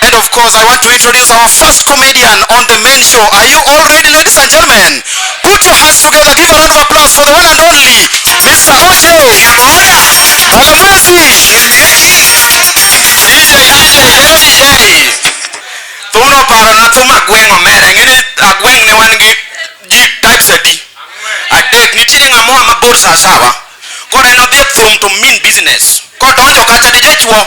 And of course, I want to introduce our first comedian on the main show. Are you all ready, ladies and gentlemen? Put your hands together, give a round of applause for the one and only Mr. Osho Mwakamwezi. DJ, DJ, hello DJ. Thumno paro na thum agweng' omera, ing'e ni agweng' ne wan gi ji types adi? Adek, nitiere ng'amoa mabor sawasawa. Koro en odhi e thum to mean business. Kodonjo kacha DJ chuo.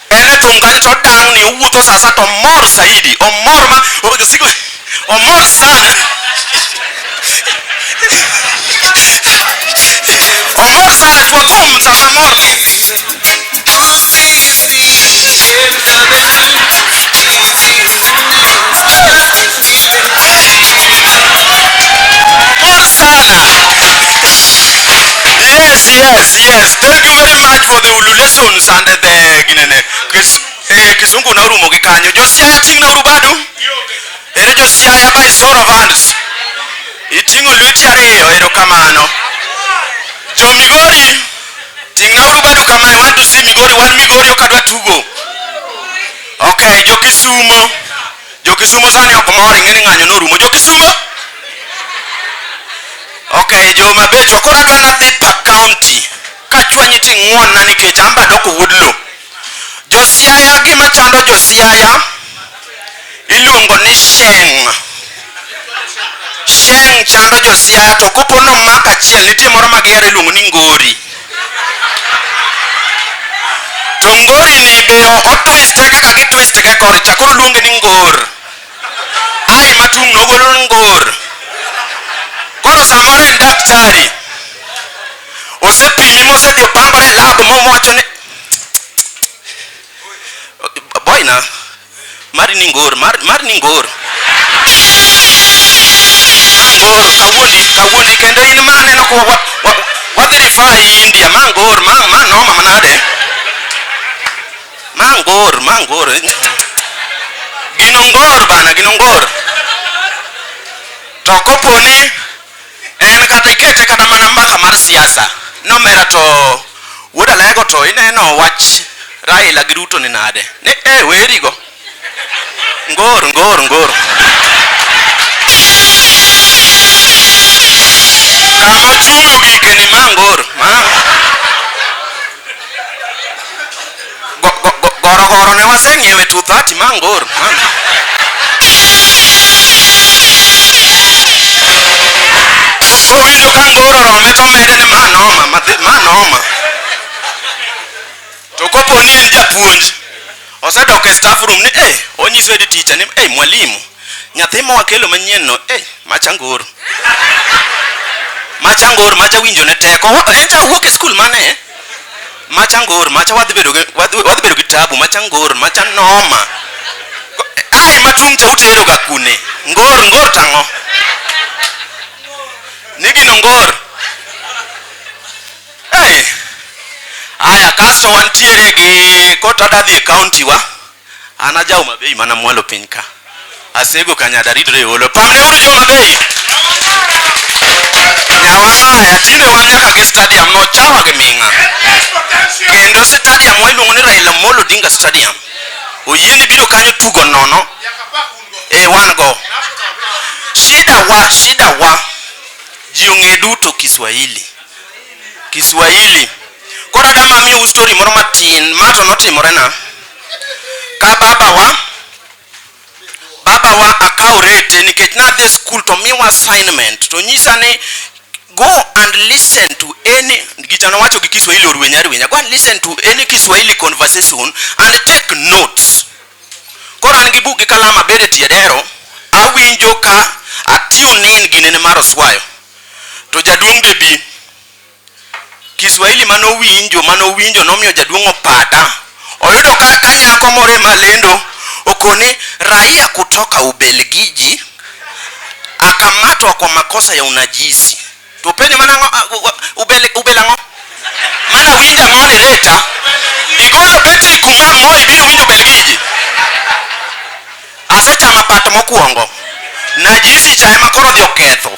En e tungane to otang' ni owuotho saa saa to omor zaidi, omor ma omor sana omor sana kwa boom sasa mor kizungu na urumo gi kanyo josiaya ting' na urubadu ere josiaya by show of hands iting'o lweti ariyo erokamano jo migori ting' na urubadu kamae want to see migori wan migori ok adwa tugo Okay, jo Kisumo. Jo Kisumo sani ok mor ing'e ni ng'anyo norumo. Jo Kisumo. Okay, jo Mabet to koro adwa nadhi pa county. Kachwanyi ti ng'won na nikech an be adoko wuod lo. Jo Siaya gima chando jo Siaya iluongo ni sheng'. Sheng chando josia to kopo no maka achiel nitie moro ma gihero iluongo ni ngori. To ngori ni be ok otwiste kaka gitwiste ga kor cha koro luonge ni ngor. Ai matung' no golo ngor. Koro samoro en daktari. Osepimi mosedhi opangore e lab mowacho ni boy na Mari ni ngor, mar, mar ni ngor. Ngor, kawuoni, kawuoni kendo in ma aneno kwa wa, wa, wadhi rifaa India, ma ngor, ma, ma noma manade. Ma ngor, ma ngor. Gino ngor bana, gino ngor. To koponi En kata ikete kata mana mbaka mar siasa nomera to wuod alego to ineno wach Raila gi Ruto ni nade ni eh werigo ngor ngor ngor kama chungo gikeni ma ngor ma Gorogoro ne waseng'iewo e 230 Mangor. Kowinjo ka ngoro rome to mede ni manoma, madhi manoma. To kopo ni en japuonj, osedok e staff room ni eh, onyiso head teacher ni eh, mwalimu, nyathi ma wakelo manyien no eh, macha ngoro. Macha ngoro, macha winjo ne teko. Echa wuok e skul mane? macha ngor macha wadhi bedo wadhi bedo gi tabu macha ngor macha noma ai matung cha utero ga kune ngor ngor tango nigi no ngor ai aya kasto wantiere gi kota dadhi e county wa An ajawo mabei mana mwalo piny ka. Asego ka nyada ridre e holo. Pamne uru jo mabei. Nyawasaya tinde wan nyaka gi stadium no chawa gi ming'a. Kendo stadium wa iluongo ni Raila Molo Dinga Stadium. Oyie ni biro kanyo tugo nono. E wan go. Shida wa, shida wa. Ji ong'e duto Kiswahili. Kiswahili. Kora dama miyo u story moro matin. Ma to notimore na. ka babawa babawa akawo rete nikech nadhi skul to miwa assignment to nyisa ni go and listen to any gicha nowacho gi kiswahili orwenya rwenya go and listen to any kiswahili conversation and take notes koro an gi buk gi kalama bere e tie dero awinjo ka atune in ginene mar oswayo to jaduong' be bi Kiswahili mane owinjo mane owinjo nomiyo jaduong' opada. Oyudo ka ka nyako moro ema lendo okoni raia kutoka Ubelgiji akamatwa kwa makosa ya unajisi. To penye mana ngo, a- u- u- ubel ubel ang'o? Mana winja ang'o ni later igolo betri kuma moe biro winjo Ubelgiji. Asechama pat mokwongo. Najisi cha ema koro odhi oketho.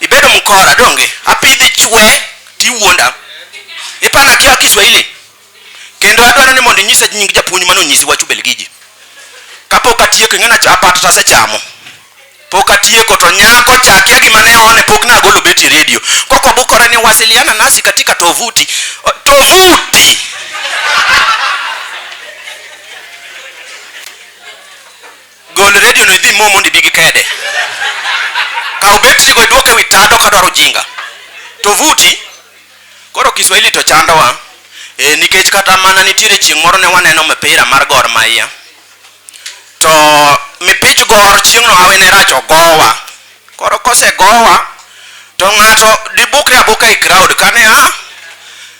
Ibedo mkora donge? Apidhi chwe tiwuonda. Ipana kia Kiswahili. Kendo adwaro ni mondo inyisa nying japuonj mano nyisi wacho Belgiji. Kapok atieko ing'ena cha apata tase chamo. Pok atieko to nyako cha kia gima ne one pok na agolo beti radio. Koko bukora ni wasiliana nasi katika tovuti. O- Tovuti. Gol radio no idhi mo mondo ibi gi kede. Kaw betri go iduok ewi tado ka dwaro jinga. To vuti koro Kiswahili to chandowa. E, nikech kata mana nitiere chieng' moro ne waneno mipira mar Gor Mahia. To mipich Gor chieng'no hawi ne rach ogowa. Koro kosegowa to ng'ato dibukre abuka e crowd kane a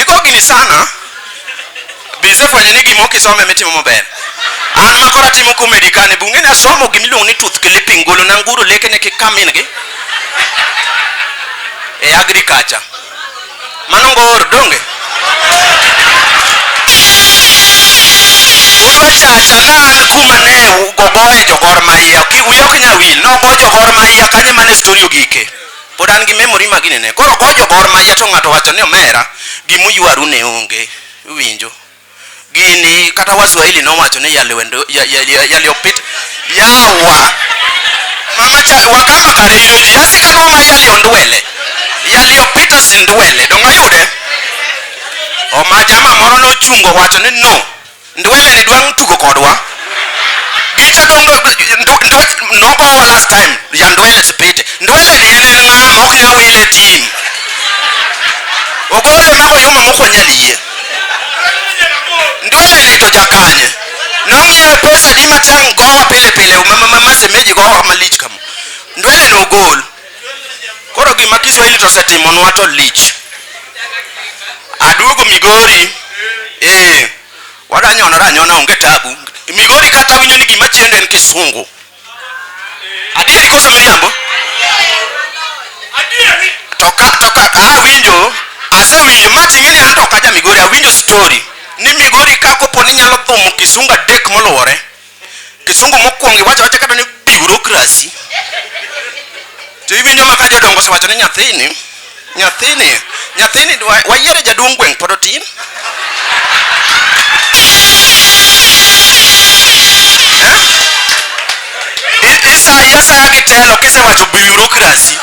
Iko gini sana. Bize fwenye ni gimo kisome mitimo maber. An makora timo comedy kane bunge na somo gimiluongo ni tooth clipping golo na nguru leke ne kikamin gi. E agriculture. Mano ngor donge. Chacha nan kuma ne gogoye jogor maiya. Uyo kinya wil. Nogo jogor maiya kanyo mane story ogike. pod an gi memory ma ginene koro gojo gor ma to ng'ato wacho ni omera gimuywaru ne onge winjo gini kata waswahili nowacho ni yaliwendo yaliopit yawa mama cha wakama kareyudi yasika no ma yali ondwele yali opita sindwele donga yude o ma jama moro nochungo wacho ni no Ndwele ni dwang' tugo kodwa. Gicha dong nogowa last time ya Ndwele Sipite. Ndwele ni en en ng'a ma ok nyal wile tim. Ogole mago yuma moko nyal yie. Ndwele ni to jakanye. Nomiye pesa di machang gowa pile pile ma ma ma semeji gowa malich kama. Ndwele no ogol. Koro gima Kiswahili to osetimonwa to lich. Aduogo Migori, eh, wadanyonora anyona onge tabu. Migori kata winjo ni gima chendo en Kisungu. Adieri koso miriambo? Adieri. To ka to ka ah, awinjo, asewinjo mati ng'eni an to kaja Migori, awinjo story ni Migori ka kopo ni nyalo thumo Kisungu adek moluwore. Kisungu mokwongo iwacho wacha kata ni bureaucracy. To iwinjo ma ka jodongo osewacho ni nyathini, nyathini, nyathini wayiere jaduong' gweng' pod otin. Isayi asaya gi telo kisewacho bureaucracy.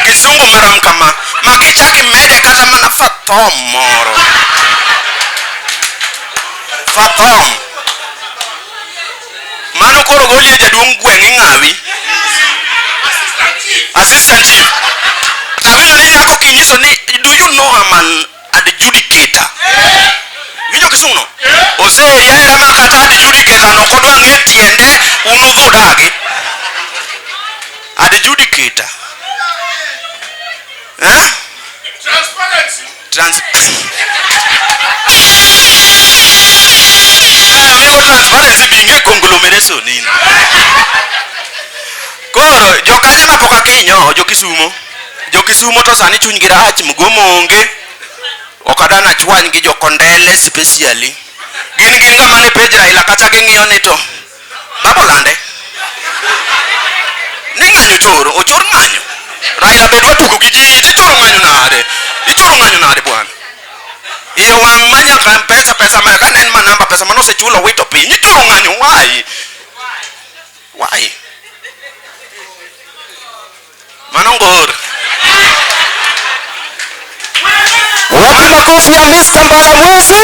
Kisungu marom kama. Magi chaki mede kata mana fathom moro. fathom mano koro goli e jaduong' gweng' ing'awi assistant chief kabila ni nyako kinyiso ni do you know I'm an adjudicator winjo kisungu no ose yaira ma kata adjudicator no kodwa ng'e tiende un udhudagi adjudicator eh? Trans transparency be nge conglomeration nini? Koro jokanyo na poka kinyo jo Kisumo. Jo Kisumo to sani chuny gi rach mgomo onge. Okada na chwany gi jo Kondele specially. Gin gin ngama ne page Raila kata ging'iyo ni to Baba olande. Ni ng'anyo choro, ochor ng'anyo. Raila be dwa tugo gi ji, ichoro ng'anyo nade? Ichoro ng'anyo nade bwana? E wang' ma nyaka pesa pesa ma ka nen ma namba pesa ma nosechulo wito piny, ichoro ng'anyo why? Why? Mano ngor. Wapi makofi ya Miss Kampala Mwezi?